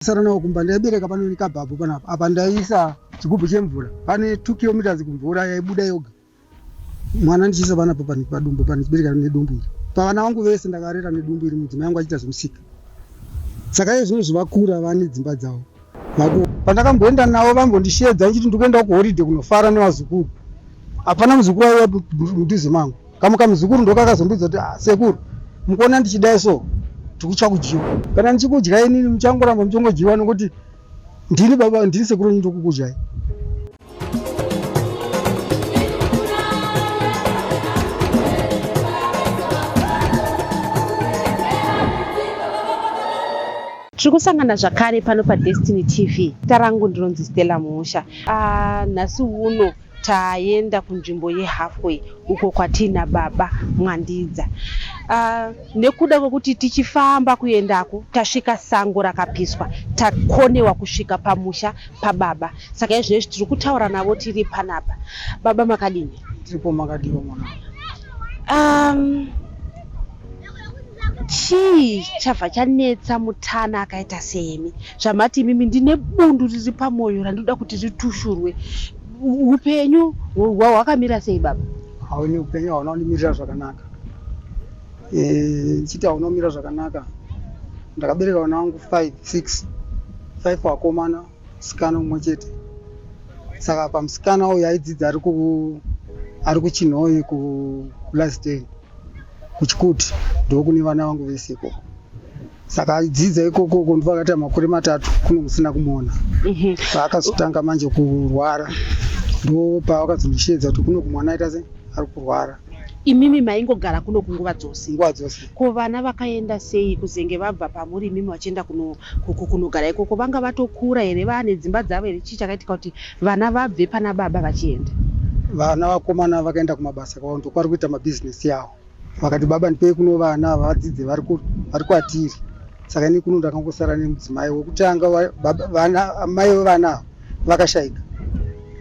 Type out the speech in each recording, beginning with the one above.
Ndasara nawo kumba ndaibereka pano nekabhabhu panapa apa ndaiisa chigubhu chemvura pane 2 kilometers kumvura yaibuda yoga mwana ndichiisa panapa pani padumbu pani chibereka nedumbu iri pavana vangu vese ndakarera nedumbu iri mudzimai yangu achiita zvemusika saka iye zvino zvivakura vane dzimba dzavo vako pandakamboenda navo vambondishedza ndichiti ndikuenda kuhoride kunofara nevazukuru hapana muzukuru aiwa mudhuze mangu kamwe kamuzukuru ndokakazondudza kuti ah, sekuru mukuona ndichidai so tikutya kudyiwa kana ndichikudya inini muchangoramba muchongodyiwa nokuti ndini baba ndini sekuru nyi ndokukudyai tiri kusangana zvakare pano padestiny tv tarangu ndinonzi stella musha ah, nhasi uno Taenda kunzvimbo yeHalfway uko kwatiina baba Mwandidza. Uh, nekuda kwekuti tichifamba kuendako tasvika sango rakapiswa takonewa kusvika pamusha pababa saka izvezvi tiri kutaura navo tiri panapa baba makadini tiripo makadiwa mwana um, chii chabva chanetsa mutana akaita semi zvamati imimi ndine bundu riri pamwoyo randinoda kuti ritushurwe upenyu hwakamira sei baba hauni upenyu hauna undimirira zvakanaka ndichiti eh, hauna umira zvakanaka ndakabereka vana vangu five six five vakomana musikana umwe chete saka pamusikana uyu aidzidza ari kuchinhoyi kulasden kuchikuti ndokune vana vangu vese ikoko saka aidzidza ikoko uko ndibva akaita makore matatu kuno musina kumuona Mhm. paakazotanga manje kurwara ndo paakazondisheedza kuti kuno kumwana aita se ari kurwara imimi maingogara kuno kunguva dzose nguva dzose ko vana vakaenda sei kuzenge vabva pamuri imimi vachienda kuno- ku- ku- kunogara ikoko vanga vatokura here vaane dzimba dzavo here chii chakaitika kuti Vana vabve pana baba vachienda. Vana vakomana vakaenda kumabasa kwavo ndokwari kuita mabhizinesi yavo. Vakati baba ndipei kuno vana vadzidze vari kwatiri. Saka ini kuno ndakangosara nemudzimai wokutanga vana amai vevana ava vakashaika.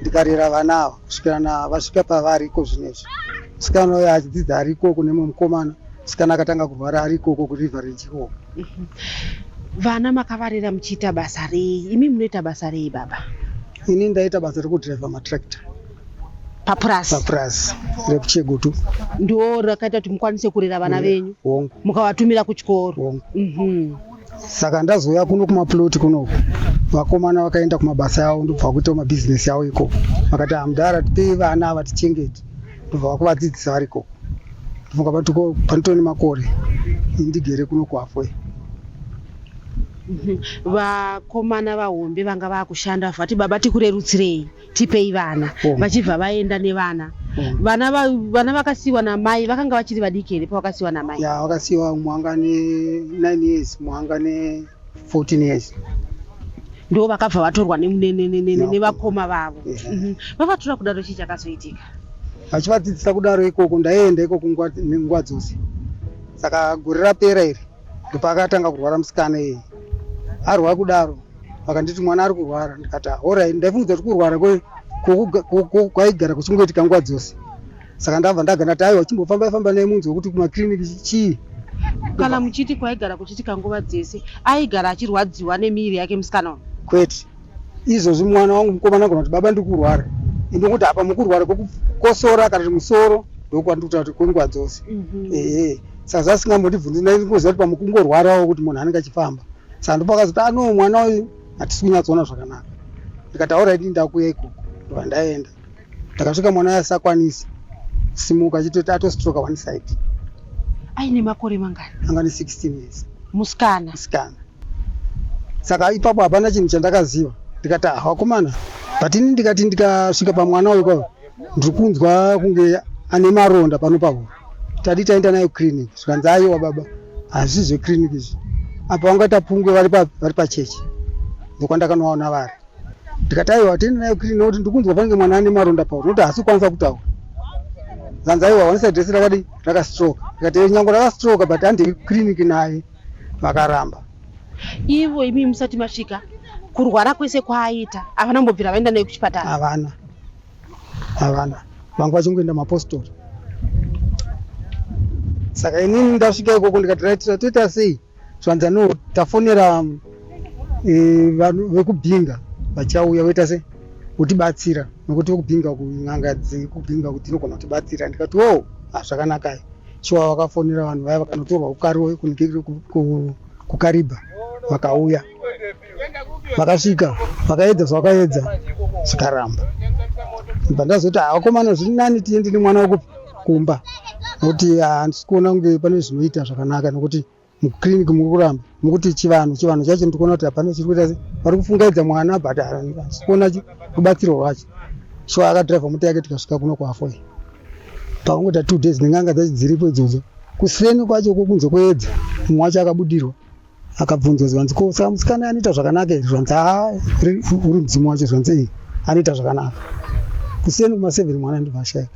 Ndikarera vana ava kusvikirana vasvika pavari iko zvinezvi. Musikana uyo achidzidza ari ikoko nemumwe mukomana. Musikana akatanga kurwara ari ikoko kuRiverage ikoko. Mhm. Vana makavarera muchiita basa rei? Imi munoita basa rei baba? Ini ndaita basa rekudriver matractor papurazi papurazi rekuchegutu ndo rakaita kuti mukwanise kurera vana venyu hongu mukawatumira kuchikoro hongu mm -hmm. saka ndazouya kuno kumaploti kuno vakomana vakaenda kumabasa yavo ndobva vakuitawo mabhizinesi yavo ikoko vakati hamudhara ah, tipei vana ava tichengete ndobva vakuvadzidzisa vari ikoko ndofunga patiko panotoo nemakore indigere kuno kuhafwe vakomana vahombe vanga vakushanda vati baba tikurerutsirei tipei vana oh. vachibva vaenda nevana mm. vana va, vana vakasiwa namai vakanga vachiri vadiki here pavakasiwa namai ya vakasiwa mwanga ne 9 years mwanga ne 14 years ndo vakabva vatorwa nevakoma vavo mhm. vavatora kudaro chii chakazoitika vachivadzidzisa kudaro ikoko ndaienda ikoko nguva dzose saka gore rapera iri ndopakatanga kurwara musikana iyi arwara kudaro vakanditi mwana ari kurwara ndikati orit ndaifungidza kuti kurwara kwaigara kuchingoitika nguva dzose saka ndabva ndaga ndati aiwa chimbofamba ifamba nei munzwa kuti kumakiriniki chii kana muchiti kwaigara kuchiitika nguva dzese aigara achirwadziwa nemiri yake musikana kwete izvozvi mwana wangu mukomana anogona kuti baba ndikurwara ende kuti apa mukurwara kwekukosora kana kuti musoro ndokwandikuta kuti kwenguva dzose mhm. ehe saka zvasingambondibvunzi ndaingoziva kuti pamukungorwarawo kuti munhu anenge achifamba saka ndopakazoti ano ah, mwana uyu hatisi kunyatsoona zvakanaka ndikati auraiti ndakuya ikoko ndovandaenda ndakasvika mwana uya asakwanisi simuka achitoti atostroka one side aine makore mangani anga ane 16 years musikana musikana saka ipapo hapana chinhu chandakaziva ndikati ah wakomana but ini ndikati ndikasvika pamwana uyu pavo ndiri kunzwa kunge ane maronda pano pavo tadi taenda nayo clinic zvikanzi aiwa baba hazvisi zveclinic izvi apa vanga tapungwe vari pa- vari pachechi ndokwandakanovaona vari ndikati aiwa tini nayo kiri nekuti ndikunzwa pange mwana ane maronda pauri nokuti haasi kukwanisa kutaura zanzi aiwa wanisa dresi rakadi rakastroka ndikati eh, nyango rakastroka but handei kiriniki naye vakaramba ivo imi musati masvika kurwara kwese kwaaita havana mbobvira vaenda naye kuchipatara havana havana vanga vachingoenda mapostori saka inini ndasvika ikoko ndikati raitira toita sei Zvanza no tafonera eh, vanhu vekubhinga vachauya voita se kutibatsira nokuti vekubhinga kun'anga dzekubhinga kuti dzinogona kutibatsira ndikati wo hazvakanaka shuwa vakafonera vanhu vaya vakanotorwa kukaribha vakauya vakasvika vakaedza zvavakaedza zvikaramba ibva ndazoti havakomana zviri nani tiende nemwana wako kumba nokuti handisi kuona kunge pane zvinoita zvakanaka nokuti muclinic muri kuramba mukuti chivanhu chivanhu chacho ndikuona kuti hapana chiri kuita vari kufungaidza mwana but handisi kuona rubatsiro rwacho so akadriver mota yake tikasvika kuno kwafoyi pakungoita two days nenganga dzacho dziripo idzodzo kuseni kwacho kokunze kweedza mumwe wacho akabudirwa akabvunzwa zvanzi ko saka musikana anoita zvakanaka izvi zvanzi haa uri mudzimu wacho zvanzi iyi anoita zvakanaka kuseni kumaseveni mwana ndibva ashaika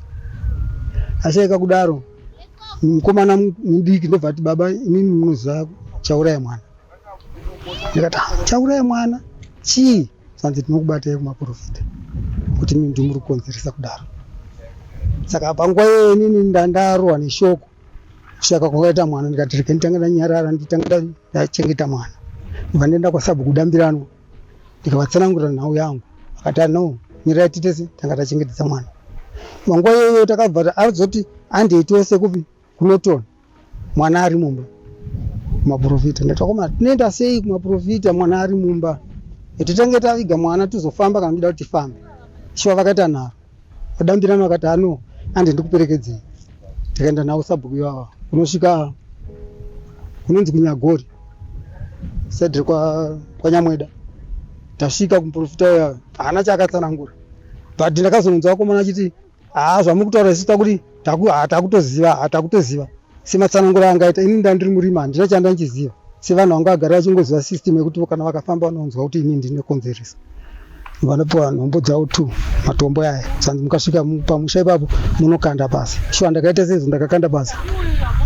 ashaika kudaro mukomana mudiki ndobva ati baba imimi munoziva chauraya mwana ndikati ah, chauraya mwana chii zvanzi tinokubatai kumaprofita kuti mimi ndimuri kukonzeresa kudaro saka panguva iyoyo inini ndandarohwa neshoko saka kwakaita mwana ndikati rega nditanga ndanyarara nditanga ndachengeta mwana ibva ndienda kwasabhuku dambirano ndikavatsanangurira nhau yangu akati ah, no mirai titese tanga tachengetedza mwana panguva iyoyo takabva azoti andei tose kupi kunotona mwana ari mumba kumaprofita ndatakoma tinoenda sei kumaprofita mwana ari mumba etitange taviga mwana tizofamba kana tida kuti tifambe shuwa vakaita nharo Adambirana akati ano andi ndikuperekedzei. Tikaenda navo sabhuku ivava kunosvika kunonzi kunyagori said kwa kwanyamweda tasvika kumuprofita uya haana chaakatsanangura but ndakazononzwa vakomana achiti haa zvamuri kutaura isu takuti takutoziva ah, takutoziva ah, sematsanangura angaita ini ndandiri murima handina chanda ndichiziva sevanhu vanga vagari vachingoziva system yekuti kana vakafamba vanonzwa kuti ini ndine konzeresa vanopiwa nhombo dzavo two matombo aya sanzi mukasvika pamusha ipapo munokanda basa shuwa ndakaita sezvo ndakakanda basa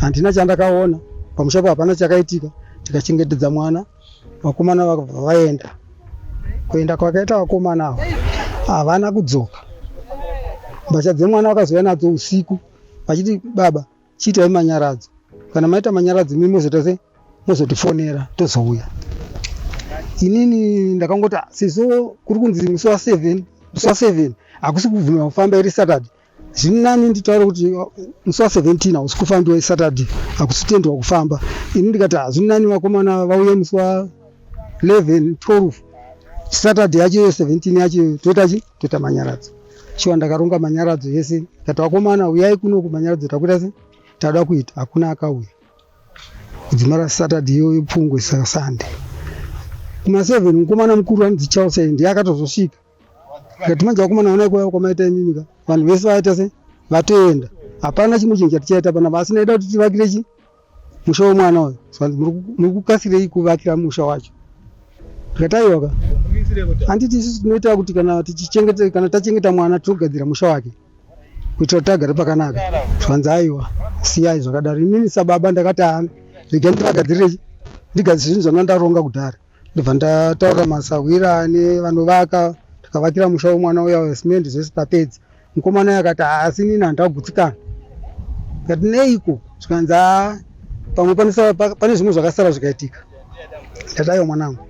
handina chandakaona pamusha ipapo hapana chakaitika tikachengetedza mwana vakomana vakabva vaenda kuenda kwakaita vakomana avo havana kudzoka mbatya dzemwana vakazouya nadzo usiku vachiti baba chiitai manyaradzo kana maita manyaradzo imi mozoita se mozotifonera tozouya inini ndakangoti "Ah, sezvo kuri kunzi musi wa seven musi wa seven hakusi kubvuma kufamba iri saturday zviri nani nditaure kuti oh, musi wa 17 hausi kufambi wesaturday hakusitendwa kufamba ini ndikati hazviri nani vakomana vauye musi wa 11 12 saturday yacho iyo 17 yacho toita chi toita manyaradzo shuwa ndakaronga manyaradzo yese ndati vakomana uyai kuno kumanyaradzo takuita se tauda kuita hakuna akauya kudzima rasaturday iyoyo pfungwe sasunday kuma 7 mukomana mukuru anonzi charles ndiye akatozosvika Ngati manje wakumana wana kwa kwa maita imimi ka. Vanhu vese vaita se vatenda. Hapana chimwe chinhu chatichaita pana basi naida kuti tivakire chi musha wemwana uyu. So muri kukasirei kuvakira musha wacho. Ngataiwa ka. Handiti isusu tinoita kuti kana tichichengeta kana tachengeta mwana tinogadzira musha wake kuitira kuti agare pakanaka zvanzi aiwa siyai zvakadaro inini sababa ndakati ana regai ndivagadzirechi ndigadzire zvinhu zvandanga ndaronga kudhara ndibva ndataura masahwira ane vanovaka tikavakira musha wemwana uya wesimendi zvese tapedza mukomana uyo akati haasi nini handida kugutsikana kati neiko zvikanzi haa pamwe panosara- pa- pane zvimwe zvakasara zvikaitika ndati aiwa mwanangu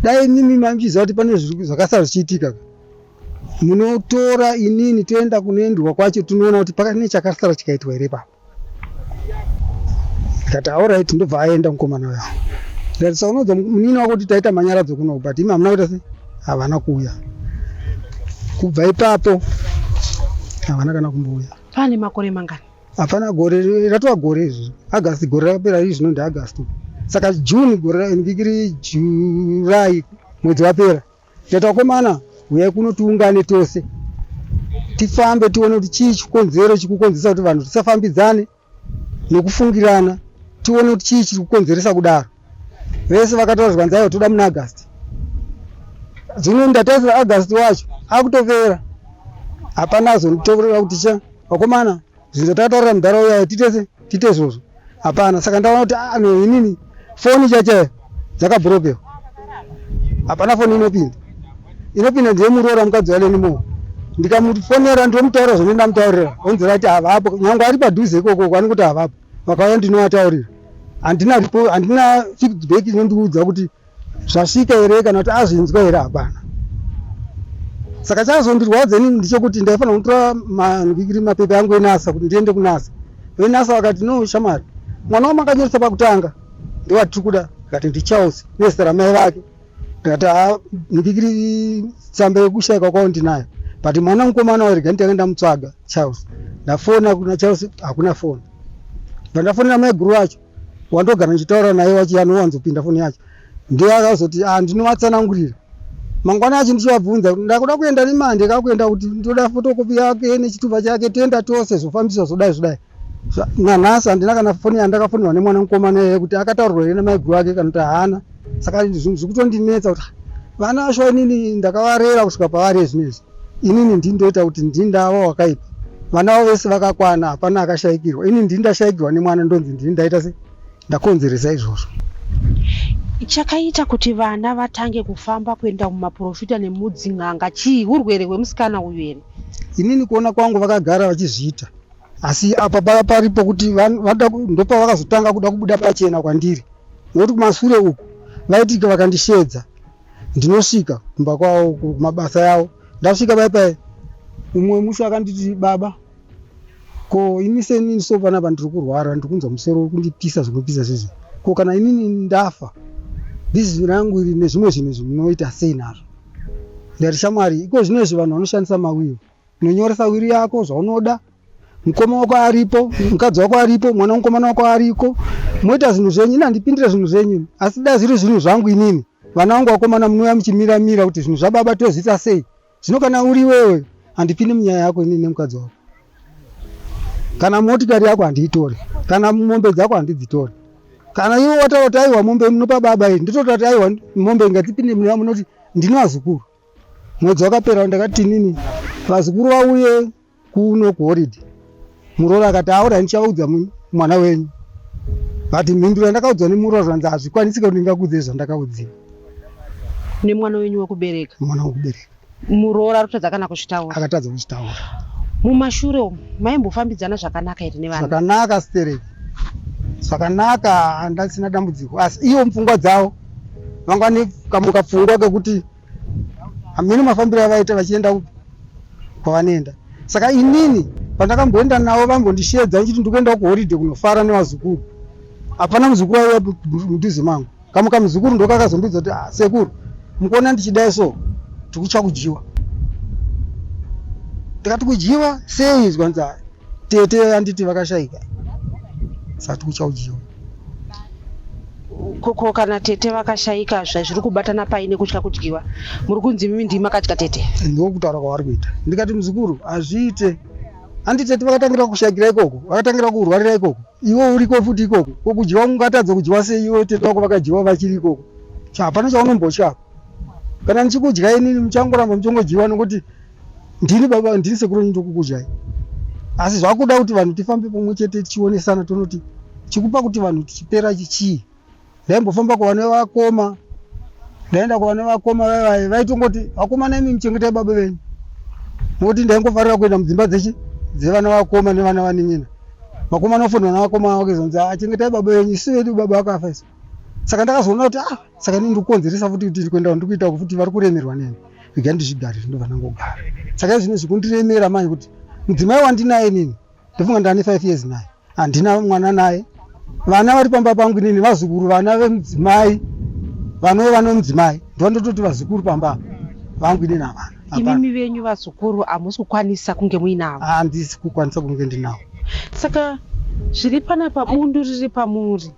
dai imimi maichiziva kuti pane zviri- zvakasara zvichiitika munotora inini toenda kunoendwa kwacho tinoona kuti pakati nechakasara chikaitwa here papa ndikati auright ndobva aenda mukomana uyo ndikati sa unodza munini wako kuti taita manyaradzo kuno but imi hamuna kuita se havana kuuya kubva ipapo havana kana kumbouya pane makore mangani hapana gore ri- ratova gore izvi agasti gore rakapera izvi zvino ndiagasti saka june gore ra- ndikiri july mwedzi wapera Tete wakomana, huyai kuno tiungane tose tifambe tione kuti chii chikonzero chikukonzeresa kuti vanhu tisafambidzane nekufungirana tione kuti chii chiri kukonzeresa kudaro vese vakataura zvikanzi aiwa toda muna agasti zvino ndatarisira agasti wacho akutopera hapana azonditorera kuti cha vakomana zvinza tataurira mudhara uya titese tite izvozvo hapana saka ndaona kuti ah, no inini foni chachayo dzakabrokewa hapana foni inopinda inopinda ndiyemuroora mukadzi waleni moo ndikamufonera ndomutaura zvone ndamutaurira onzira kuti havapo nyange ari padhuze ikoko kwani kuti havapo vakauya ndinoataurira handina handina feedback inondiudza kuti zvasvika here kana kuti azvinzwa here hapana saka chazondirwadza ini ndichokuti ndaifanira kutora manvikiri mapepa yangu enasa kuti ndiende kunasa venasa vakati no shamari mwana wamakanyoresa pakutanga ndiwatiri kuda akati ndicharles nezita ramai vake ndikati ha ndikiri tsamba yekushaikwa kwavo ndinayo but mwana mukomana wairega nditanga ndamutsvaga charles ndafona kuna charles hakuna foni bva ndafonera maiguru vacho wandogara ndichitaura naye wacho anowanzopinda foni yacho ndiye akazoti ah, ndinovatsanangurira mangwana yacho ndichivabvunza ndakuda kuenda nemandi kakuenda kuti ndoda fotokopi yake nechitupa chake toenda tose zvofambiswa zvodai zvodai nanhasi handina kana foni yandakafonirwa nemwana mukomana iye kuti akataurirwa here namaiguru ake kana kuti haana saka zvinhu zviri kutondinetsa kuti vana vacho inini ndakavarera kusvika pavari ezvinezvi inini ndini ndoita kuti ndini ndava wakaipa vana vavo vese vakakwana hapana akashaikirwa ini ndini ndashaikirwa nemwana ndonzi ndini ndaita se ndakonzeresa izvozvo chakaita kuti vana vatange kufamba kuenda kumaprofita nemudzin'anga chii urwere hwemusikana uyu here inini kuona kwangu vakagara vachizviita asi apa pava paripo kuti van- vada ku- ndopavakazotanga kuda kubuda pachena kwandiri nokuti kumasure uku vaitike vakandisheedza ndinosvika kumba kwavo kumabasa yavo ndasvika pai pai umwe musi akanditi baba ko ini senini so panapa ndiri kurwara ndiri kunzwa musoro kundipisa zvinopisa sezvi ko kana inini ndafa bhizinesi rangu iri nezvimwe zvinhu zvinoita sei nazvo ndati shamwari iko zvino izvi vanhu vanoshandisa mawiyo unonyoresa wiri yako zvaunoda mukoma wako aripo mukadzi wako aripo mwana mukomana wako ariko moita zvinhu zvenyu ini handipindire zvinhu zvenyu asi dai zviri zvinhu zvangu inini vana vangu vakomana munouya muchimira mira kuti zvinhu zvababa tozviita sei zvino kana uri iwewe handipindi munyaya yako inini nemukadzi wako kana motikari yako handiitore kana mombe dzako handidzitore kana iwe wataura kuti aiwa mombe munopa baba iri nditotaura kuti aiwa mombe ingatipinde munyaya munoti ndino azukuru mwedzi wakapera ndakati nini vazukuru vauye kuno kuhoridhe muroori akati aura ndichavaudza mwana wenyu but mhinduro yandakaudzwa nemuroori zvanzi hazvikwanisi kuti ndingakuudzei zvandakaudziwa nemwana wenyu wekubereka mwana wekubereka muroora arikutadza kana kuzvitaura akatadza kuzvitaura mumashure umu maimbofambidzana zvakanaka here nevana zvakanaka stereki zvakanaka handasina dambudziko asi iwo mupfungwa dzavo mangwani kamuka pfungwa kekuti hameno mafambiro avaita vachienda kwavanoenda saka inini pandakamboenda navo vambondishedza ndichiti ndikuendawo kuhoride kunofara nevazukuru hapana muzukuru aiva mudhuze mangu kamuka muzukuru ndokakazondudza kuti ah, sekuru mukuona ndichidai so tikutya kudyiwa ndikati kudyiwa sei izwa nzaa tete anditi vakashaika sati kuchaujiwa koko kana tete vakashaika zvazviri kubatana pai nekutya kudyiwa muri kunzi mimi ndimi makadya tete ndokutaura kwavari kuita ndikati muzukuru hazviite handi tete vakatangira kushaikira ikoko vakatangira kurwarira ikoko iwe uriko futi ikoko ko kudyiwa ungatadza kudyiwa sei iwe tete vako vakadyiwa vachiri ikoko hapana chaunombotya kana ndichikudya inini muchangoramba muchongodyiwa nokuti ndini baba ndini sekuru wenyu ndokukudzvai asi zvakuda kuti vanhu tifambe pamwe chete tichionesana tonoti chikupa kuti vanhu tichipera chichii ndaimbofamba kuvana vakoma ndaenda kuvana vakoma vaivaye vaitongoti vakoma naimi muchengetai baba venyu nokuti ndaingofarira kuenda mudzimba dzechi dzevana vakoma nevana vanin'ina vakoma nofunda vana vakoma vavo kezonzi ah, achengetai baba venyu isu vedu baba vakafa isu saka ndakazoona kuti ah saka ini ndikukonzeresa futi kuti ndikuenda ndikuita futi vari kuremerwa neni rega ndizvigare ndobva ndangogara saka izvino zvikundiremera manje kuti mudzimai wandinaye nini ndofunga ndane five years naye handina mwana naye vana vari pamba pangu nini vazukuru vana vemudzimai vanove vana vemudzimai ndovandototi vazukuru pamba vangu inini havana imimi venyu vazukuru hamusi kukwanisa kunge muinavo handisi kukwanisa kunge ndinavo saka zviri panapa bundu riri pamuri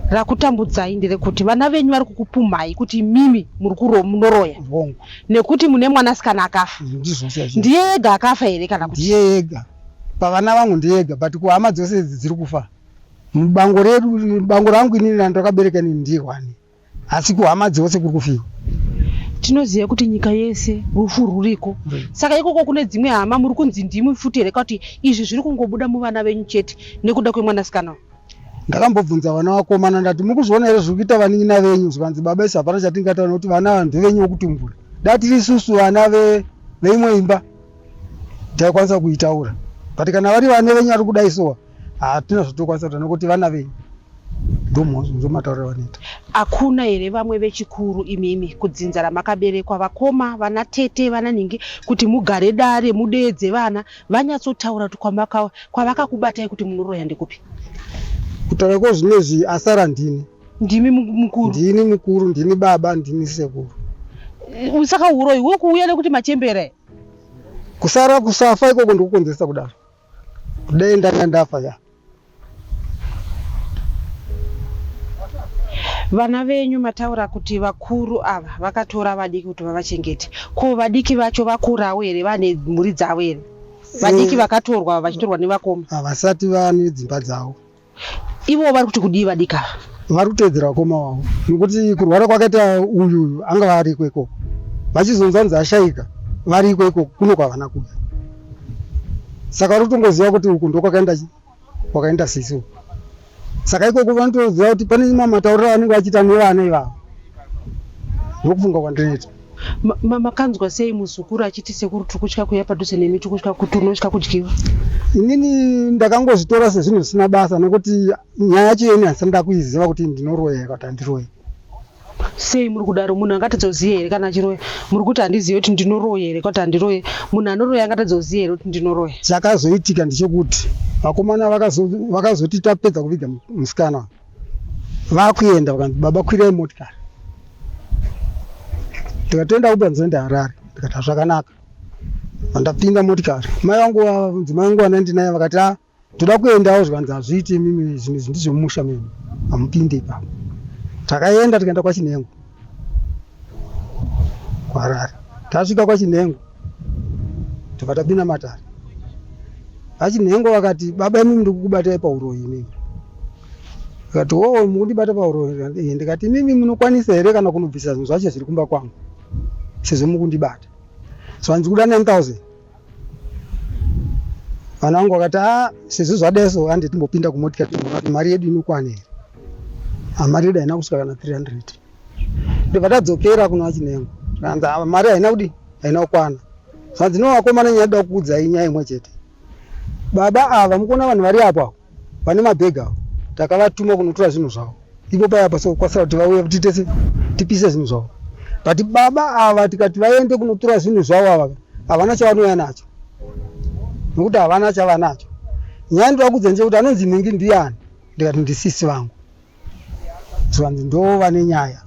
rakutambudzai nderekuti vana venyu vari kukupumhai kuti imimi muri kuro munoroya hongu nekuti mune mwanasikana akafa ndizvo chaizvo ndiye ega akafa here kana kuti ndiye ega pavana vangu ndiye ega but kuhama dzose idzi dziri kufa mubango redu bango rangu inini randakabereka inini ndiye wani asi kuhama dzose kuri kufiwa tinoziva kuti nyika yese rufu ruriko saka ikoko kune dzimwe hama muri kunzi ndimi futi here kuti izvi zviri kungobuda muvana venyu chete nekuda kwemwanasikana uyu ndakambobvunza vana vakomana ndati mukuzviona here zviri kuita vanin'ina venyu zvikanzi baba isi hapana chatingataura nekuti vana ava ndevenyu wokutumbura dai tiri isusu vana ve- veimwe imba taikwanisa kuitaura but kana vari vane venyu ari kudai sowa hatina zvatokwanisa kuta nokuti vana venyu ndomataurira vanoita hakuna here vamwe vechikuru imimi kudzinza ramakaberekwa vakoma vana tete vana ningi kuti mugare dare mudeedze vana vanyatsotaura kuti kwavakakubatai kuti munoroya ndekupi kutaura kwozvinezvi asara ndini ndimi mukuru ndini mukuru ndini baba ndini sekuru saka uroyi wokuuya nekuti machembere kusara kusafa ikoko ndokukonzeresa kudaro Dei ndanga ndafa ka. Vana venyu mataura kuti vakuru ava vakatora vadiki kuti vavachengete. Ko vadiki vacho vakurawo here vane mhuri dzavo here? Vadiki vakatorwa vachitorwa nevakoma. Havasati vane dzimba dzavo. Ivo vari kuti kudii vadiki ava? Vari kuteedzera vakoma wavo nokuti kurwara kwakaita uyu uyu anga vari iko ikoko vachizonzwa nzi ashaika vari iko ikoko kuno kwavana kuya saka vari kutongoziva kuti uku ndokwakaenda kwakaenda sisi uku saka ikoko vanotoziva kuti pane mamatauriro avanenge vachiita nevana ivavo ndokufunga kwandinoita makanzwa sei muzukuru achiti sekuru tikutya kuya padhuze nemi tikutya kuti unotya kudyiwa inini ndakangozvitora sezvinhu zvisina basa nokuti nyaya yacho yeni handisati ndakuiziva kuti ndinoroya kuti handiroye sei muri kudaro munhu angatadzoziva here kana achiroya muri kuti handizive kuti ndinoroya here kuti handiroye munhu anoroya angatadzoziva here kuti ndinoroya chakazoitika ndichokuti vakomana vakazoti tapedza kuviga musikana vakuenda vakanzi baba kwirai motikari ndikatoenda uber nzoenda harare ndikati hazvakanaka vandapinda motikari mai vangu vavunzi mai vangu vanandinaye vakati a ah, toda kuendawo zvikanzi hazviiti imimi zvinhu izvi ndizvemumusha mimi hamupindi ipapo takaenda tikaenda kwachinhengo kuharare tasvika kwachinhengo tobva tapinda matare vachinhengo vakati baba imimi ndiri kukubatai pauroyi inini akati oo mukundibata pauroyi ndikati imimi munokwanisa here kana kunobvisa zvinhu zvacho zviri kumba kwangu sezvo mukundibata so hanzi kuda 9000 vana vangu vakati a sezvo zvadeso handi timbopinda kumotika mari yedu inokwana here mari yedu haina kusvika kana 300 ndibva tadzokera kuna chinengo kanzi ah, mari haina kudi haina kukwana zvanzi no vakomana nyaya da kukuudzai nyaya imwe chete baba ava mukuona vanhu vari apo avo vane mabhegi avo takavatuma kunotora zvinhu zvavo ipo paya apa sokwasira kuti vauye kuti tese tipise zvinhu zvavo but baba ava tikati vaende kunotora zvinhu zvavo ava havana chavanouya nacho nokuti havana chavanacho nyaya ndivakudza nje kuti anonzi nhingi ndiyani ndikati ndisisi vangu zvanzi ndoo vane nyaya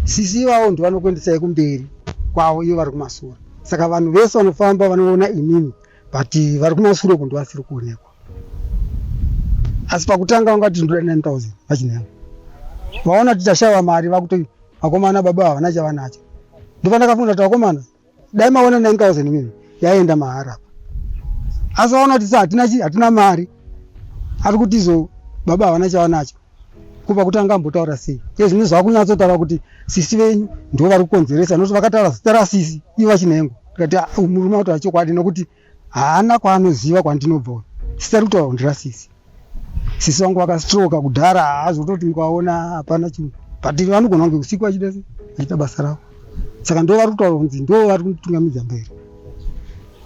sisi ivavo ndovanokuendesai kumberi kwavo ivo vari kumasura saka vanhu vese vanofamba vanoona inini but vari kumasure uko ndovasiri kuonekwa asi pakutanga vanga kuti ndoda 9000 vachinaa vaona kuti tashava mari vakuti vakomana baba havana chavanacho ndopandakafunga kuti vakomana dai maona 9000 mimi yaenda mahara apa asi vaona kuti sa hatina chi hatina mari ari kuti izo baba havana chavanacho kubva kuti anga ambotaura sei iye zvine zvakunyatsotaura kuti sisi venyu ndivo vari kukonzeresa nokuti vakataura zita rasisi ivo vachinengo tikati "Ah, uyu murume autaura chokwadi nokuti haana kwaanoziva kwandinobva uyu sisi ari kutaura kundira sisi sisi wangu vakastroka kudhara haazototi mukaona hapana chinhu but vanogona kunge usiku vachida se vachiita basa ravo saka ndo vari kutaura kunzi ndo vari kunditungamidza mberi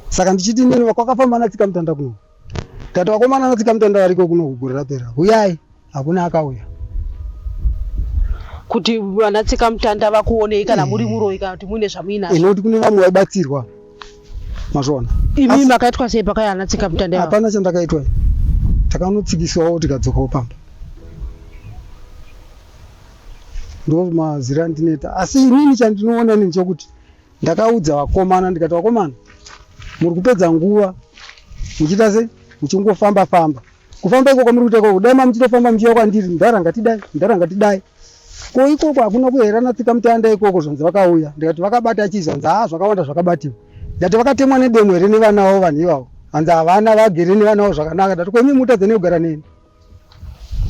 saka ndichiti nini kwakafamba natsika mutanda kuno tati vakomana natsika mutanda variko kuno kugore rapera huyai hakuna akauya kuti vana tsika mutanda vakuonei kana muri muroyi kana kuti muine zvamuinazo inokuti kune vamwe vaibatsirwa mazvona imi makaitwa sei pakaya ana tsika mutanda hapana chandakaitwa takanotsikiswawo tikadzokawo pamba ndo mazira andineta asi inini chandinoona nini chokuti Ndakaudza vakomana ndikati vakomana muri kupedza nguva muchiita sei muchingofamba famba kufamba iko kwamuri kuita ikoko dai mamuchitofamba muchiuya kwandiri mudhara ngatidai mudhara ngatidai ko ikoko hakuna kuherana tsika mutanda ikoko zvanzi vakauya ndikati vakabata chii zvanzi haa zvakawanda zvakabatiwa ndati vakatemwa nedemo here nevana vavo vanhu ivavo hanzi havana vagere nevana vavo zvakanaka ndati ko imi mutadza nekugara neni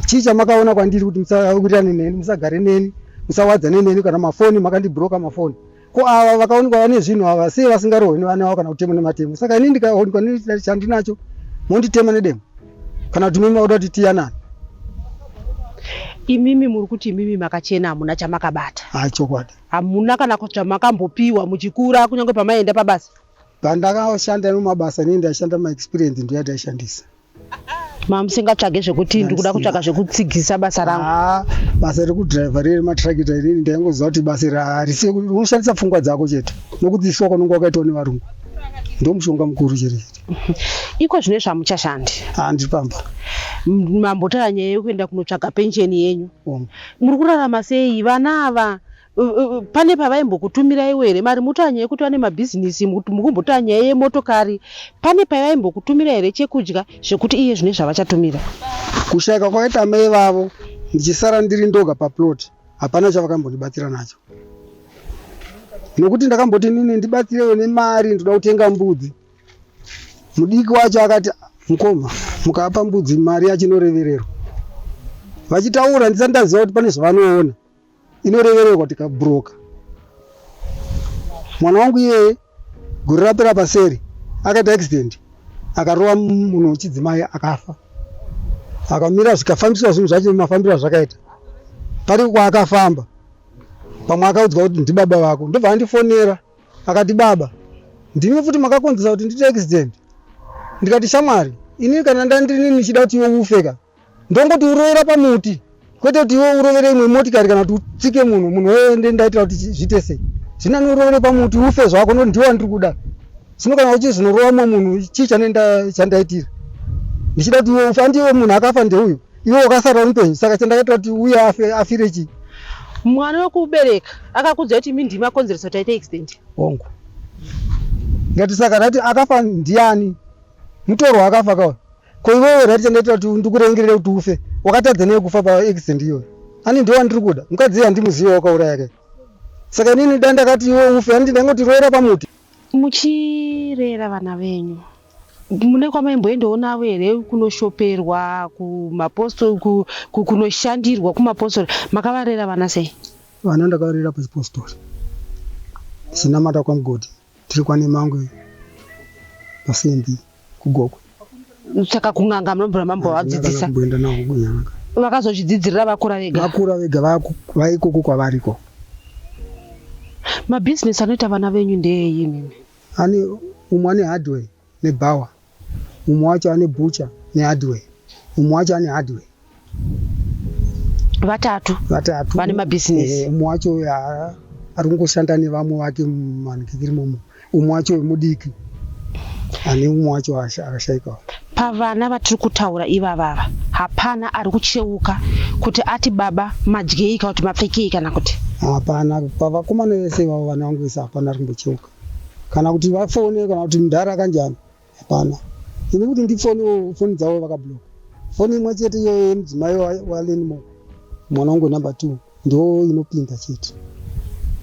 chii chamakaona kwandiri kuti musawirirane neni musagare neni musawadzane neni kana mafoni makandibroka mafoni ko ava vakaonekwa vane zvinhu ava sei vasingarohwi nevana vavo kana kutemwa nematemo saka ini ndikaonekwa chandinacho monditema nedemo kana kuti mimi maoda kuti tiyanani imimi muri kuti imimi makachena hamuna chamakabata ha chokwadi hamuna kana zvamakambopiwa muchikura kunyange pamaienda pabasa pandakashanda nemumabasa neni ndaishanda maexperience ndoyataishandisa mamusingatsvage zvekuti ndikuda kutsvaga zvekutsigisa basa rangu ah, basa rekudriver riri matrakita irini ndaingoziva kuti basa iri harise unoshandisa pfungwa dzako chete nokuti isu wakononga wakaitwa nevarungu ndomushonga mukuru chete iko zvine zvamuchashandi handi ah, pamba mambotaura nyaya yekuenda kunotsvaga pensheni yenyu muri kurarama sei vana ava pane pavaimbokutumirai here mari mutanya yekuti vane mabhizinisi mukumbotanya yemotokari pane pavaimbokutumira here chekudya zvekuti iye zvine zvavachatumira kushaika kwakaita mai vavo ndichisara ndiri ndoga paplot hapana chavakambondibatsira nacho nokuti ndakamboti nini ndibatsirewo nemari ndoda kutenga mbudzi mudiki wacho akati mukoma mukapa mbudzi mari yachinorevererwa vachitaura ndisati ndaziva kuti pane zvavanoona inorevererwa kuti kabhuroka mwana wangu iyeye gore rapera paseri akaita accident akarova munhu wechidzimai akafa akamira zvikafambiswa zvinhu zvacho mafambiro azvakaita pari kwaakafamba pamwe akaudzwa kuti ndibaba vako ndobva andifonera akati baba ndimi futi makakonzesa kuti ndiite accident ndikati shamwari ini kana ndandini ndichida kuti iwe ufeka ndongoti urovera pamuti kwete kuti iwe urovere imwe motikari kana kuti utsike munhu munhu wee ndaitira kuti zviite sei zvina niurovere pamuti ufe zvako no ndiwa ndiri kuda zvino kana uchizonorova mwe munhu chii chandaitira ndichida kuti iwe ufe andiwe munhu akafa ndeuyu iwe wakasara unupenyu saka chandakaitira kuti uye afe afire chii mwana wekuubereka akakudza kuti mi ndima konzeresa kuti aite extent hongu ngatisaka tati akafa ndiani mutorwa akafa kawa ko iwewe right chandaita kuti ndikurengerere kuti ufe wakatadza nei kufa paaccident iyoyo ani ndiwo andiri kuda mukadzi iye handimuziva wakauraya ke saka inini da ndakati iwe ufe handiti ndaingoti roera pamuti muchirera vana venyu mune kwamaimboendoonavo here kunoshoperwa kumapostori ku- ku- kunoshandirwa kumapostori makavarera vana sei vana ndakavarera pachipostori chinamata kwamugodhi Tiri kwaNemangwe pasimbi kugokwe. Saka kun'anga munombura mambo vadzidzisa. Kumboenda nawo kun'anga. Vakazozvidzidzirira vakura vega. Vakura vega vaku vaikoko kwavariko. Mabusiness anoita vana venyu ndeeyi imimi? Ani umwe ane hardware. nebhawa mumwe wacho ane bhucha nehardware mumwe wacho ane hardware vatatu vatatu vane mabhizinesi eh, umwe wacho ari kungoshanda nevamwe vake mumanikikiri momo umwe wacho mudiki ane umwe wacho akashaikawo pavana vatiri kutaura ivavava hapana ari kucheuka kuti ati baba madyei kana kuti mapfekei kana kuti hapana pavakomana vese ivavo vana vangu vese hapana ari kumbocheuka kana kuti vafone kana kuti mdhara kanjani hapana ini kuti ndifone foni dzavo vakabloka foni imwe chete iyoyo yemudzimai walenmo mwana wangu number two ndo inopinda chete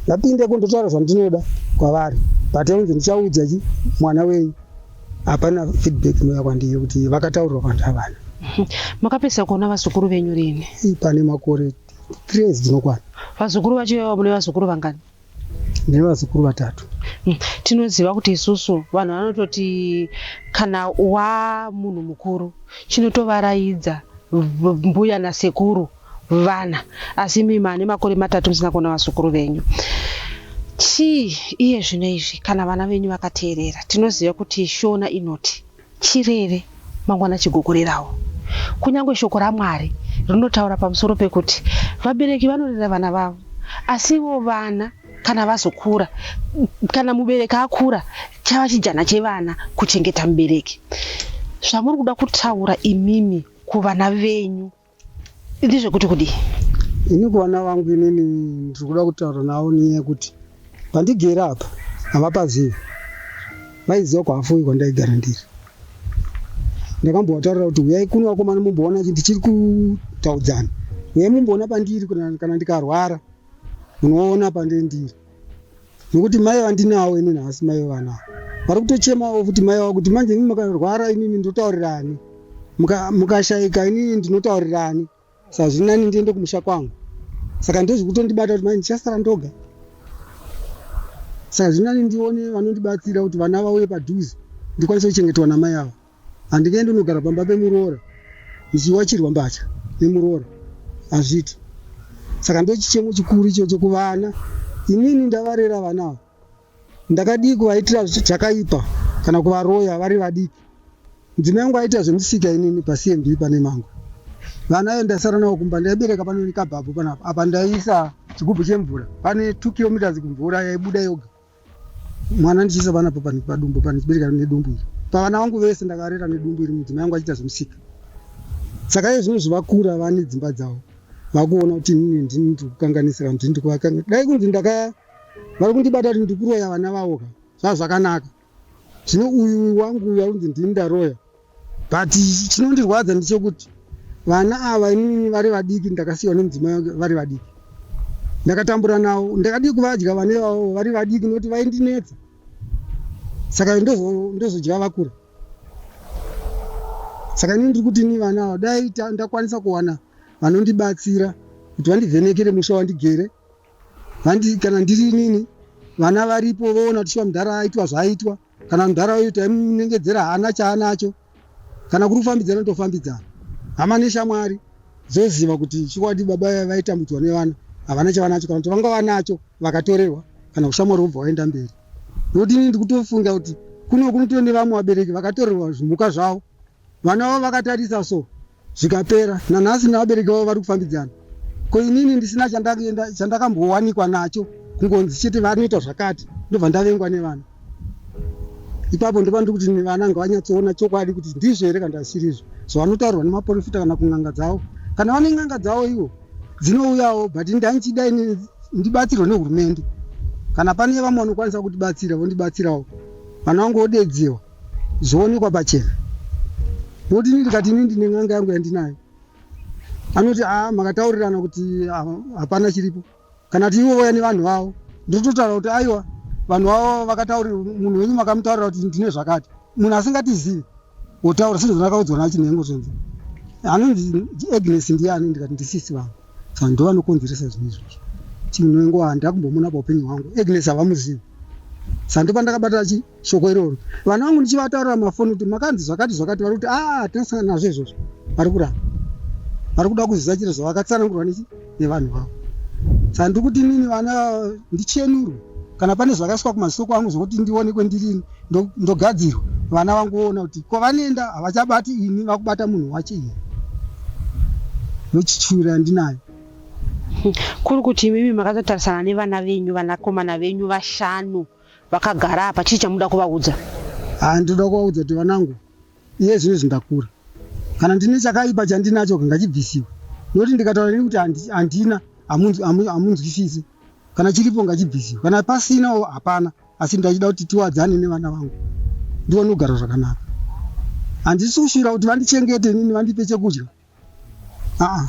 ndapinde ko ndotaura zvandinoda kwavari but onzi ndichaudza chi mwana wenyu hapana feedback inoya kwandiri kuti vakataurwa vanhu havana makapedzisa kuona vazukuru venyu rini pane makore three years dzinokwana vazukuru vacho ivavo mune vazukuru vangani nevazukuru vatatu hmm. tinoziva kuti isusu vanhu vanototi kana wamunhu mukuru chinotovaraidza mbuya nasekuru vana asi mimi ane makore matatu musina kuona vazukuru venyu chii iye zvino izvi kana vana venyu vakateerera tinoziva kuti shona inoti Chirere, mangwana chigokorerawo. Kunyange Shoko raMwari rinotaura pamusoro pekuti vabereki vanorera vana vavo, asi ivo vana kana vazokura, kana mubereki akura, chava chijana chevana kuchengeta mubereki. Zvamuri kuda kutaura imimi kuvana venyu. ndizvekuti kudii ini kuvana vangu inini ndiri kuda kutaura navo nyaya yekuti pandigere apa havapazivi vaiziva kwahafuyi kwandaigara ndiri ndakambovataurira kuti huyai kuno vakomana mumboona kuti ndichiri kutaudzana huyai mumboona pandiri kana ndikarwara munoona pandiri ndiri nokuti mai vandinawo ini nhasi mai vevana vari kutochemawo futi mai vavo kuti manje imi mukarwara imimi ndotaurirani Muka- mukashaika inini ndinotaurirani saka zviri nani ndiende kumusha kwangu saka ndozvi kutondibata kuti manje ndichasara ndoga saka zviri nani ndione vanondibatsira kuti vana vauye padhuze ndikwanise kuchengetwa namai avo Handingaende kunogara pamba pemuroora ndichiwachirwa mbatya nemuroora hazviti. Saka ndochichemo chikuru ichocho kuvana. Inini ndavarera vana ava. Ndakadii kuvaitira zvakaipa kana kuvaroya vari vadiki. Mudzimai wangu aiita zvemusika inini paCMB pane Mangwe. Vana ava ndasara navo kumba. Ndaibereka pano nekabhabhu panapa. Apa ndaiisa chigubhu chemvura pane two kilometres kumvura yaibuda yoga. mwana ndichiisa vana padumbu pandichibereka nedumbu iri pavana vangu vese ndakarera nedumbu iri mudzimai yangu achiita zvemusika saka iye zvino zvivakura vane dzimba dzavo vakuona kuti inini ndini ndiri kukanganisira ndini ndiri kuvakanga dai kunzi ndaka vari kundibata kuti ndiri kuroya vana vavo ka zvaa zvakanaka zvino uyu wangu uyu akunzi ndini ndaroya but chinondirwadza ndichokuti vana ava inini vari vadiki ndakasiyiwa nemudzimai wake vari vadiki ndakatambura nawo ndakadii kuvadya vana ivavo vari vadiki nokuti vaindinetsa saka ndozo- ndozodya vakura saka inini ndiri kuti ini vana ava dai ta- ndakwanisa kuwana vanondibatsira kuti vandivhenekere musha wandigere vandi kana ndiri inini vana varipo voona kuti shuwa mudhara aitwa zvaaitwa kana mudhara uyu taimunengedzera haana chaanacho kana kuri kufambidzana tofambidzana hama neshamwari dzoziva kuti chikwadi baba vaitambudzwa nevana havana chavanacho kana kuti vanga vanacho vakatorerwa kana kushamwari vobva vaenda mberi nokuti ini ndikutofunga kuti kuno kunoto nevamwe vabereki vakatorerwa zvimhuka zvavo Vana vavo vakatarisa so zvikapera. Nanhasi nevabereki vavo vari kufambidzana. Ko inini ndisina chandakambowanikwa nacho kungonzi chete vanoita zvakati ndobva ndavengwa nevana. Ipapo ndopandiri kuti nevana ngavanyatsoona chokwadi kuti ndizvo here kana zvisirizvo zvavanotaurwa nemaporofita kana kun'anga dzavo. Kana vane n'anga dzavo ivo dzinouyawo but ndandichida ini ndibatsirwe nehurumende kana pane vamwe vanokwanisa kutibatsira vondibatsirawo vana vangu vodedziwa zvoonekwa pachena nekuti ini ndikati ini ndine n'anga yangu yandinayo anoti a ah, makataurirana kuti ah, hapana chiripo kana kuti ivo vauya nevanhu vavo ndototaura kuti aiwa vanhu vavo vakataurira munhu wenyu makamutaurira kuti ndine zvakati munhu asingatizivi wotaura sezvandakaudzwa nachinhengo zvonzi anonzi agnes ndiani ndikati ndisisi vangu saka ndovanokonzeresa zvinhu izvozvo chinhu wengu handina kumbomona paupenyu hwangu agnes havamuzivi saka ndopandakabatira chii shoko iroro vana vangu ndichivataurira mafoni kuti makanzi zvakati zvakati vari kuti aa ah, tinasangana nazvo izvozvo vari kuramba vari kuda kuziva chiro zvavakatsanangurwa nechi nevanhu vavo saka ndiri kuti inini vana ndichenurwe kana pane zvakaiswa kumasoko angu zvokuti ndione kwendirini ndogadzirwa vana vangu voona kuti kwavanoenda havachabati ini vakubata munhu wacho ini nochichuri yandinayo kuri kuti imimi makatotarisana nevana venyu vanakomana venyu vashanu vakagara apa chii chamuda kuvaudza ah, ndinoda kuvaudza kuti vanangu iye zvino zvindakura kana ndine chakaipa chandinacho kangachibvisiwa nokuti ndikataura nekuti handina hamunzwisisi kana chiripo ngachibvisiwa kana pasinawo hapana asi ndachida kuti tiwadzane nevana vangu ndione kugara zvakanaka handisi kushuvira kuti vandichengete inini vandipe chekudya aa ah,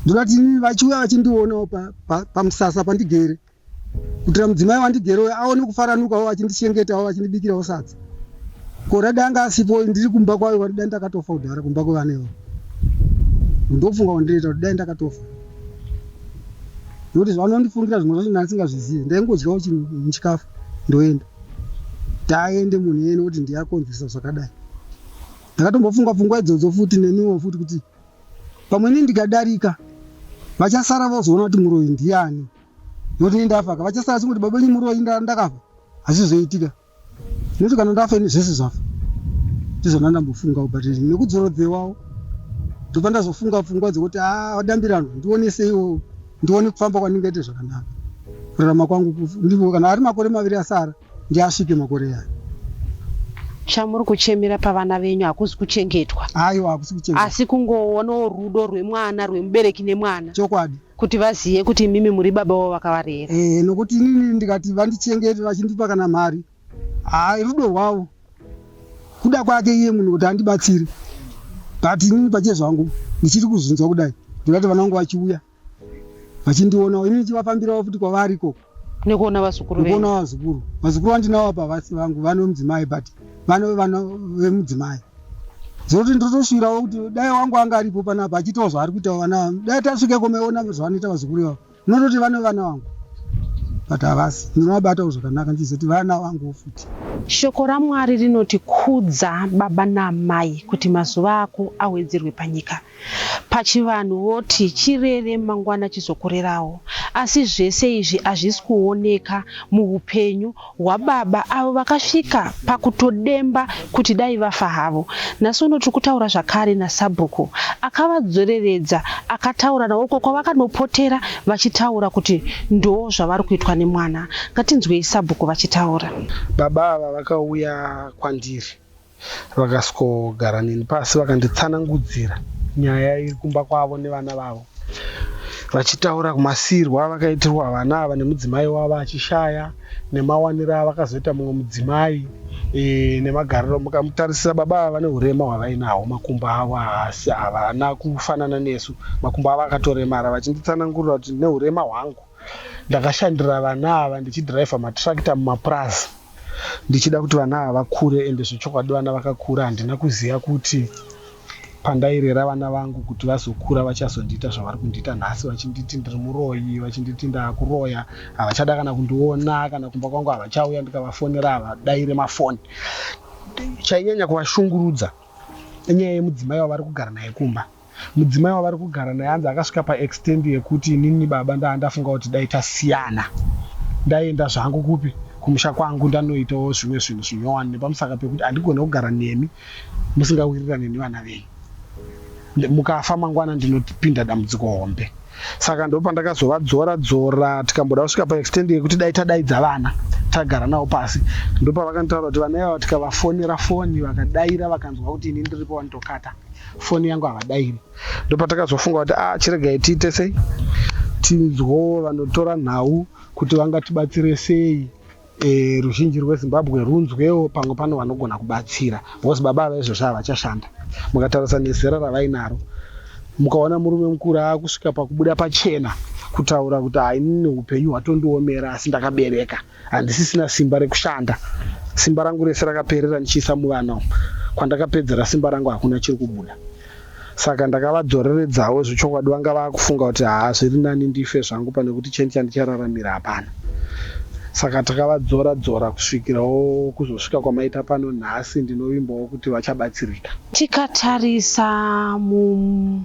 ndinoti inini vachiuya vachindionawo pamusasa pandigere kutira mudzimai wandigere uyo aone kufaranukawo vachindichengetawo vachindibikirawo sadza korada anga asipo ndiri kumba kwayo vari dai ndakatofa kudhara kumba kwevana ivo ndofunga wandireita kuti dai ndakatofa nokuti zvavanondifungira zvimwe zvacho ndandisingazvizive ndaingodyawo chikafu ndoenda taende munhu yene kuti ndiyakonzeresa zvakadai Ndakatombofunga pfungwa idzodzo futi neniwo futi kuti pamwe ini ndikadarika vachasara vozoona kuti muroyi ndiani noti ini ndafaka vachasara vachingoti baba ini muroyi ndakafa hazvizoitika noti kana ndafa ini zvese zvafa ndizvona ndambofunga but nekudzorodzewawo ndobva ndazofunga pfungwa dzekuti a vadambiranwa ndioneseiwo ndione kufamba kwandingaite zvakanaka kurarama kwangu ndivo kana ari makore maviri asara Ndiasike makore aya. Chamuri kuchemera pavana venyu hakuzi kuchengetwa. Aiwa hakusi kuchengetwa. Asi kungoonawo rudo rwemwana rwemubereki nemwana. Chokwadi. Kuti vazive kuti imimi muri baba wavo vakavarera. Eh nokuti inini ndikati vandichengete vachindipa kana mari. Haa rudo rwavo. Kuda kwake iye munhu kuti andibatsire. But inini pache zvangu ndichiri kuzvinzwa kudai. Ndingati vana vangu vachiuya vachindionawo ini ndichivafambirawo futi kwavari ikoko nekuona vazukuru nekuona vazukuru vazukuru vandinawo apa vasi vangu vane mudzimai but vane vana vemudzimai zvokuti ndotosvirawo kuti dai wangu anga aripo panapa achiitawo zvaari kuitawo vana vangu dai tasvike komeona zvavanoita vazukuru ivavo unototi vane vana vangu but havasi ndinovabatawo zvakanaka ndichizoti vana vanguwo futi shoko ramwari rinoti kudza baba naamai kuti mazuva ako awedzerwe panyika Pachivanhu voti chirere mangwana chizokurerawo asi zvese izvi hazvisi kuoneka muhupenyu hwababa avo vakasvika pakutodemba kuti dai vafa havo. Nhasi uno tiri kutaura zvakare nasabhuku akavadzoreredza akataura navo uko kwavakanopotera vachitaura kuti ndoo zvavari kuitwa nemwana. Ngatinzwei sabhuku vachitaura. Baba ava vakauya kwandiri Vakasvikogara neni pasi vakanditsanangudzira nyaya iri kumba kwavo nevana vavo vachitaura kumasiirwa avakaitirwa vana ava nemudzimai wavo achishaya nemawaniro avakazoita mumwe mudzimai e, nemagariro mukamutarisisa baba ava vane urema hwavainaho makumbo avo haasi havana kufanana nesu makumbo avo akatoremara vachinditsanangurira kuti neurema hwangu Ndakashandira vana ava ndichidriver matractor mumapurazi ndichida kuti vana ava vakure ende zvechokwadi vana vakakura handina kuziva kuti pandairera vana vangu kuti vazokura vachazondiita zvavari kundiita nhasi vachinditi ndiri muroyi vachinditi ndakuroya havachada kana kundiona kana kumba kwangu havachauya ndikavafonera havadaire mafoni chainyanya kuvashungurudza inyaya yemudzimai wavari kugara naye kumba Mudzimai wavari kugara naye anzi akasvika paextend yekuti inini baba ndanga ndafunga kuti dai tasiyana ndaienda zvangu kupi kumusha kwangu ndanoitawo zvimwe zvinhu zvinyowani nepamusaka pekuti handigone kugara nemi musingawirirane nevana venyu. Mukafa mangwana ndinopinda dambudziko hombe. Saka ndopandakazovadzora dzora tikamboda kusvika paextend yekuti dai tadaidza vana tagara navo pasi. Ndopavakanditaura kuti vana ivava tikavafonera foni vakadaira vakanzwa kuti ini ndiripo vanotokata. foni yangu havadairi ndopatakazofunga kuti a ah, chiregai tiite sei tinzwo vanotora nhau kuti vangatibatsire sei e, ruzhinji rwezimbabwe runzwewo pamwe pano vanogona kubatsira because baba ava izvozvo havachashanda mukatarisa nezera ravainaro mukaona murume mukuru akusvika pakubuda pachena kutaura kuti hainini upenyu hwatondiomera asi ndakabereka handisisina simba rekushanda simba rangu rese rakaperera ndichiisa muvana umu kwandakapedzera simba rangu hakuna chiri kubuda saka ndakavadzoreredzawo zvechokwadi vanga vakufunga kuti haa zviri nani ndife zvangu pane kuti cheni chandichararamira hapana saka takavadzora dzora kusvikirawo kuzosvika kwamaita pano nhasi ndinovimbawo kuti vachabatsirika tikatarisa mu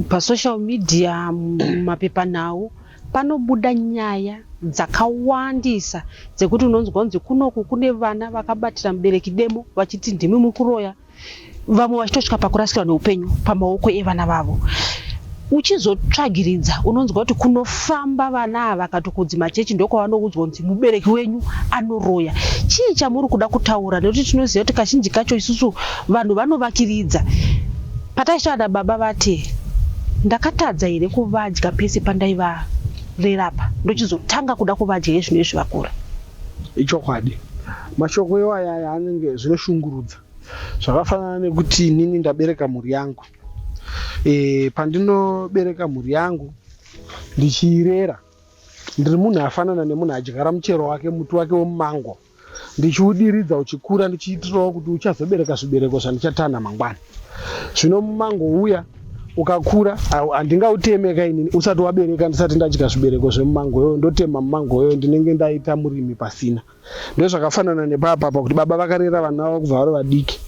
pasocial media mumapepanhau Panobuda nyaya dzakawandisa dzekuti unonzwa kunzi kunoku kune vana vakabatira mubereki demo vachiti ndimi muri kuroya, vamwe vachitosvika pakurasikirwa neupenyu pamaoko evana vavo. Uchizotsvagiridza unonzwa kuti kunofamba vana ava kana kunzi machechi ndokwavanoudzwa kunzi mubereki wenyu anoroya. Chii chamuri kuda kutaura nekuti tinoziva kuti kazhinji kacho isusu vanhu vanovakiridza. Pataisvada baba vati ndakatadza here kuvadya pese pandaivarera apa ndochizotanga kuda kuvadya yezvino izvi vakura. Ichokwadi. Mashoko iwaya aya anenge zvinoshungurudza. Zvakafanana nekuti inini ndabereka mhuri yangu. E, pandinobereka mhuri yangu ndichiirera ndiri munhu afanana nemunhu adyara muchero wake muti wake wemumango ndichiudiridza uchikura ndichiitirawo kuti uchazobereka zvibereko zvandichatanha mangwana zvino mumango uya ukakura handingautemeka inini usati wabereka ndisati ndadya zvibereko zvemumango yoyo ndotema mumango yoyo ndinenge ndaita murimi pasina ndozvakafanana nepapapa kuti baba vakarera vana vavo kubva vari vadiki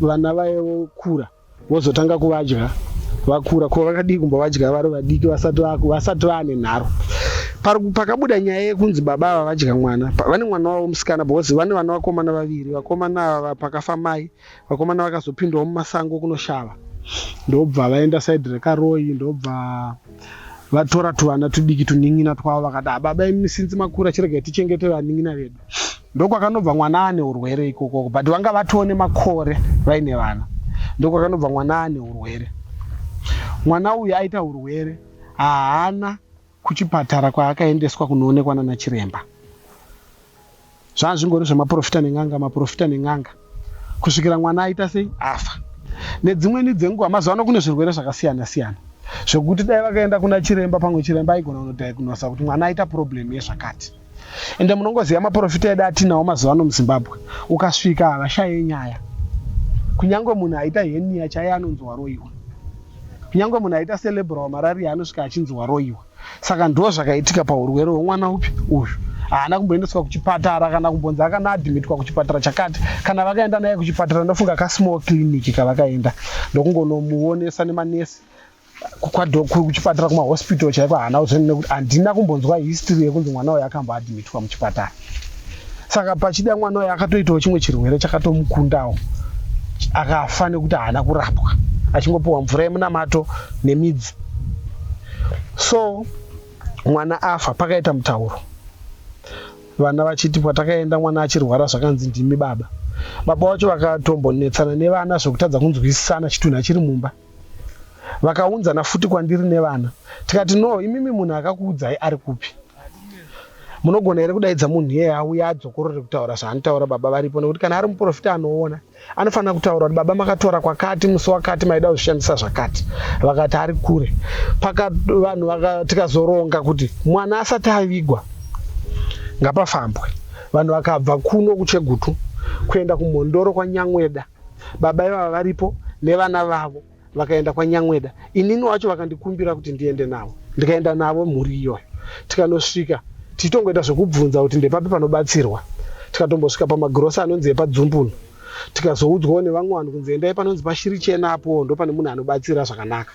vana vaevokura vozotanga kuvadya vakura ko vakadii kumba vadya vari vadiki vasati vasati vaane nharo pakabuda nyaya yekunzi baba ava vadya mwana vane mwana wavo musikana because vane vana vakomana vaviri vakomana ava pakafa mai vakomana vakazopindawo mumasango kunoshava ndobva vaenda saidi rekaroyi ndobva vatora tuvana tudiki tunin'ina twavo vakati hababa ah, imi sinzi makura chiregai tichengete vanin'ina vedu Ndokwakanobva mwana ane urwere ikokoko but vanga vatoo nemakore vaine vana ndokwakanobva mwana ane urwere mwana uyu aita urwere haana kuchipatara kwaakaendeswa kunoonekwa nana chiremba zvaazvingori zvemaprofita nen'anga maprofita nen'anga kusvikira mwana aita sei afa nedzimweni dzenguva mazuva ano kune zvirwere zvakasiyana siyana zvekuti dai vakaenda kuna chiremba pamwe chiremba aigona kunodhaikunasa kuti mwana aita problem yezvakati ende munongoziva maporofita edu atinawo mazuva ano muzimbabwe ukasvika havashaye nyaya kunyange munhu aita henia chaiye anonzi waroyiwa kunyange munhu aita celebra wamarariya anosvika achinzi waroyiwa saka ndo zvakaitika paurwere hwemwana upi uyu haana kumboendeswa kuchipatara kana kumbonzi akanaadhimitwa kuchipatara chakati kana vakaenda naye kuchipatara ndofunga kasmall clinic kavakaenda ndokungonomuonesa nemanesi kuchipatara kumahospital chaiko haana kuzveni nekuti handina kumbonzwa history yekunzi mwana uyo akamboadmitwa muchipatara saka pachida mwana uyo akatoitawo chimwe chirwere chakatomukundawo akafa nekuti haana kurapwa achingopiwa mvura yemunamato nemidzi so mwana afa pakaita mutauro vana vachiti patakaenda mwana achirwara zvakanzi ndimi baba baba vacho vakatombonetsana nevana zvekutadza kunzwisisana chitunhu achiri mumba vakaunzana futi kwandiri nevana tikati no imimi munhu akakuudzai ari kupi munogona here kudaidza munhu iyeye auya adzokorore kutaura zvaanotaura baba varipo nekuti kana ari muprofita anoona anofanira kutaura kuti baba makatora kwakati musi wakati maida kuzvishandisa zvakati vakati ari kure paka vanhu tikazoronga kuti mwana asati avigwa ngapafambwe vanhu vakabva kuno kuchegutu kuenda kumhondoro kwanyangweda Baba ivava varipo nevana vavo vakaenda kwaNyamweda. Inini wacho vakandikumbira kuti ndiende navo. Ndikaenda navo mhuri iyoyo. Tikanosvika tichitongoita zvekubvunza kuti ndepapi panobatsirwa. Tikatombosvika pamagirosa anonzi epaDzumbunu. Tikazoudzwawo nevamwe vanhu kunzi endai panonzi paShirichena apo ndopane munhu anobatsira zvakanaka.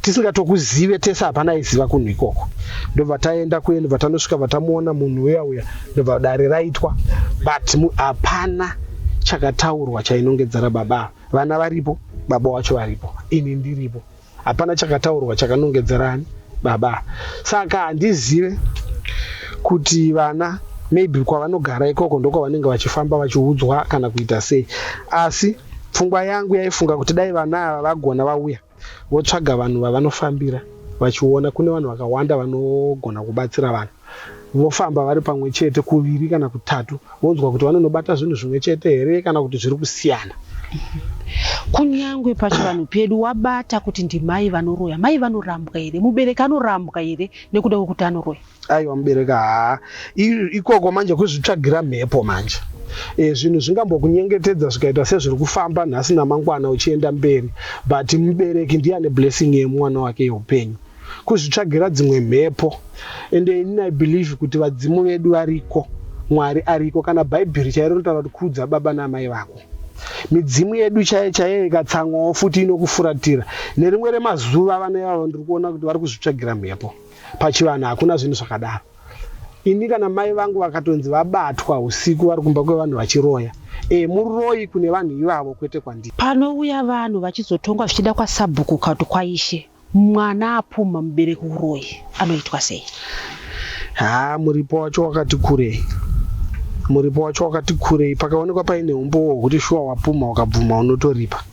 tisingatokuzive tese hapana aiziva kunhu ikoko ndobva taenda kuye ndobva tanosvika vatamuona munhu uya uya ndobva dare raitwa but hapana chakataurwa chainongedzera baba vana varipo baba wacho varipo ini ndiripo hapana chakataurwa chakanongedzerani baba saka handizive kuti vana maybe kwavanogara ikoko ndokwavanenge vachifamba vachiudzwa kana kuita sei asi pfungwa yangu yaifunga kuti dai vana ava vagona vauya Votsvaga vanhu vavanofambira vachiona kune vanhu vakawanda vanogona kubatsira vanhu. Vofamba vari pamwe chete kuviri kana kutatu vonzwa kuti vanonobata zvinhu zvimwe chete here kana kuti zviri kusiyana. Kunyangwe pachivanhu pedu wabata kuti ndimai vanoroya, mai vanorambwa here, mubereki anorambwa here nekuda kwekuti anoroya? Aiwa mubereka haa ikoko manje kuzvitsvagira mhepo manje e, zvinhu zvingambokunyengetedza zvikaita sezviri kufamba nhasi namangwana uchienda mberi but mubereki ndiye ane blessing yemwana wake yeupenyu kuzvitsvagira dzimwe mhepo ende ini i believe kuti vadzimu vedu variko mwari ariko kana bhaibheri chairo rinotaura kuti kudza baba naamai vako midzimu yedu chaiye chaiye ikatsamwawo futi inokufuratira nerimwe remazuva vana ivavo ndiri kuona kuti vari kuzvitsvagira mhepo Pachivanhu hakuna zvinhu zvakadaro. Ini kana mai vangu vakatonzi vabatwa usiku vari kumba kwevanhu vachiroya. E, muroyi kune vanhu ivavo kwete kwandiri. Panouya vanhu vachizotongwa zvichida kwasabhuku kana kuti kwaishe. Mwana apumha mubereki uroyi anoitwa sei? Haa muripo wacho wakati kurei. Muripo wacho wakati kurei. Pakaonekwa paine umbowo hwekuti shuwa wapumha ukabvuma unotoripa.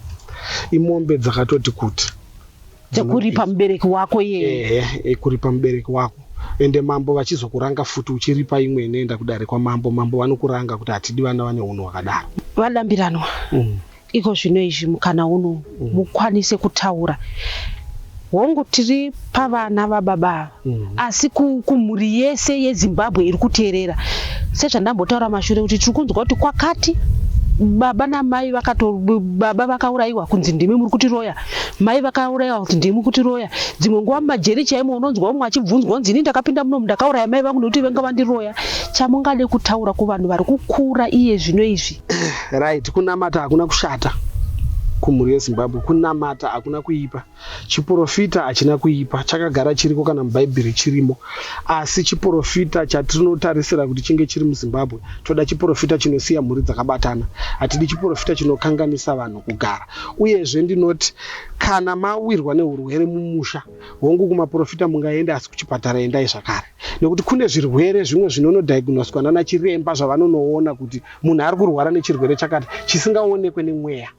Imombe dzakatoti kuti. dzekuripa mubereki wako iyeye Eh, eh, kuripa mubereki wako ende mambo vachizokuranga futi uchiripa imwe inoenda kudare kwamambo mambo vanokuranga kuti hatidi vana vane hunhu hwakadaro vadambiranwa Mm. iko zvino izvi mukana uno mukwanise kutaura hongu tiri pavana vababa ava mm. asi kumhuri yese yezimbabwe iri kuteerera sezvandambotaura mashure kuti tiri kunzwa kuti kwakati baba namai vakato baba vakaurayiwa kunzi ndimi muri kuti roya mai vakaurayiwa kunzi ndimi kuti roya dzimwe nguva mumajeri chaimo unonzwa umwe achibvunzwa kunzi ini ndakapinda munomu ndakauraya mai vangu nekuti venga vandiroya chamungade kutaura kuvanhu vari kukura iye zvino izvi right kunamata hakuna kushata kumhuri yezimbabwe kunamata hakuna kuipa Chiporofita hachina kuipa, chakagara chiriko kana muBhaibheri chirimo. Asi chiporofita chatinotarisira kuti chinge chiri muZimbabwe, toda chiporofita chinosiya mhuri dzakabatana. Hatidi chiporofita chinokanganisa vanhu kugara. Uyezve ndinoti kana mawirwa nehurwere mumusha, hongu kumaporofita mungaende asi kuchipatara endai zvakare. Nekuti kune zvirwere zvimwe zvinonodhayignoswa nanachiremba zvavanonoona kuti munhu ari kurwara nechirwere chakati chisingaonekwe nemweya.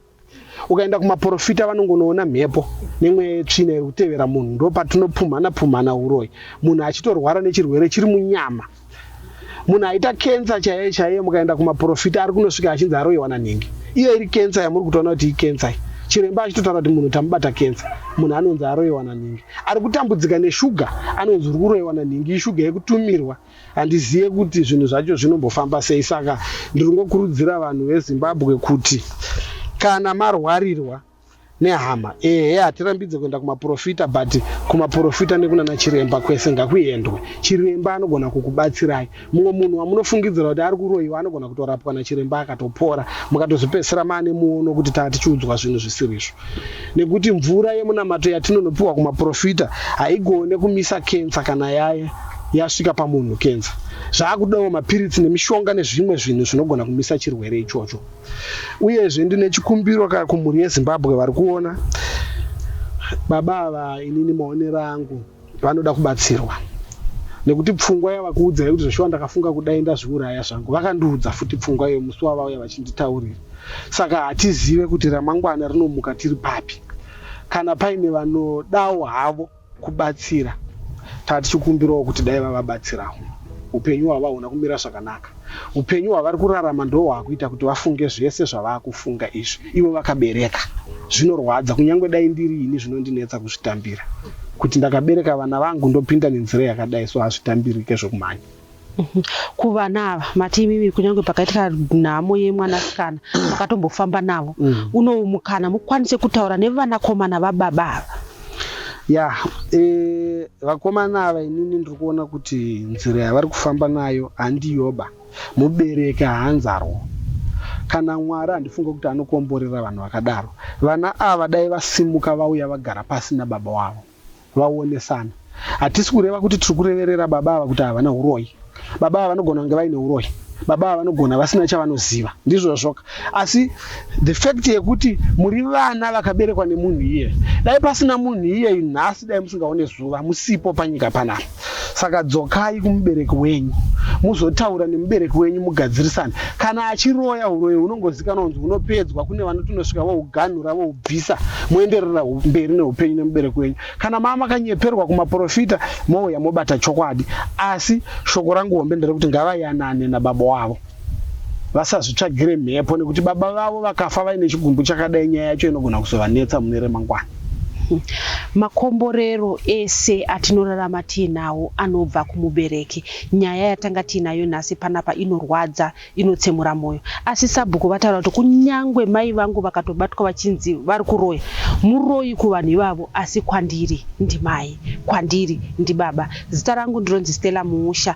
ukaenda kumaporofita vanongonoona mhepo nemwe tsvina iri kutevera munhu ndo patinopumhana pumhana uroyi munhu achitorwara nechirwere chiri munyama munhu aita kensa chaiye chaiye mukaenda kumaporofita ari kunosvika achinzi aroiwa nanhingi iyo iri kensa yamuri kutoona kuti ikensa iyi chiremba achitotaura kuti munhu tamubata kensa munhu anonzi aroiwa nanhingi ari kutambudzika neshuga anonzi uri kuroiwa nanhingi ishuga yekutumirwa Handizive kuti zvinhu zvacho zvinombofamba sei saka ndiri kungokurudzira vanhu veZimbabwe kuti kana marwarirwa nehama ehe hatirambidze kuenda kumaporofita but kumaporofita nekunana chiremba kwese ngakuendwe chiremba anogona kukubatsirai mumwe munhu wamunofungidzira kuti ari kuroyiwa anogona kutorapwa nachiremba akatopora mukatozopedzisira maane muono kuti taa tichiudzwa zvinhu zvisirizvo nekuti mvura yemunamato yatinonopiwa kumaporofita haigone kumisa kensa kana yaye yasvika pamunhu kenza zvaakudawo mapiritsi nemishonga nezvimwe zvinhu zvinogona kumisa chirwere ichocho uyezve ndine chikumbiro ka kumhuri yezimbabwe vari kuona baba ava inini maonero angu vanoda kubatsirwa nekuti pfungwa yavakuudza yekuti zveshuwa ndakafunga kudai ndazviuraya zvangu vakandiudza futi pfungwa iyo musi wavauya vachinditaurira saka hatizive kuti ramangwana rinomuka tiri papi kana paine vanodawo havo kubatsira taa tichikumbirawo kuti dai vavabatsirawo upenyu hwavahuna kumira zvakanaka upenyu hwavari kurarama ndo hwakuita kuti vafunge zvese zvavakufunga izvi ivo vakabereka zvinorwadza kunyange dai ndiri ini zvinondinetsa kuzvitambira kuti ndakabereka vana vangu ndopinda nenzira yakadai so hazvitambirike zvokumhanya kuvana ava mati imimi kunyange pakaitika nhamo yemwanasikana makatombofamba navo mm. unowu mukana mukwanise kutaura nevanakomana vababa ava ya e, vakomana ava inini ndiri kuona kuti nzira yavari kufamba nayo handiyoba mubereki haanzarwo kana mwari handifunge kuti anokomborera vanhu vakadaro vana ava dai vasimuka vauya vagara pasi nababa wavo vaonesana. Hatisi kureva kuti tiri kureverera baba ava kuti havana huroyi. Baba ava vanogona kunge vaine huroyi. Baba ava vanogona vasina chavanoziva. Ndizvozvoka. Asi the fact yekuti muri vana vakaberekwa nemunhu iye. Dai pasina munhu iyeyu nhasi dai musingaone zuva, musipo panyika panapa. Saka dzokai kumubereki wenyu muzotaura nemubereki wenyu mugadzirisane. Kana achiroya uroyi hunongozikanwa kunzi hunopedzwa kune vanoti unosvika vohuganhura vohubvisa moenderera mberi neupenyu nemubereki wenyu. Kana maa makanyeperwa kumaporofita mouya mobata chokwadi. Asi shoko rangu hombe nderekuti ngavayanane nababa wavo. vasazvitsvagire mhepo nekuti baba vavo vakafa vaine chigumbu chakadai nyaya yacho inogona kuzovanetsa mune remangwana makomborero ese atinorarama tiinawo anobva kumubereki nyaya yatanga tiinayo nhasi panapa inorwadza inotsemura mwoyo asi sabhuku vataura kuti kunyange mai vangu vakatobatwa vachinzi vari kuroya muroyi kuvanhu ivavo asi kwandiri ndimai kwandiri ndibaba zita rangu ndinonzi stella muusha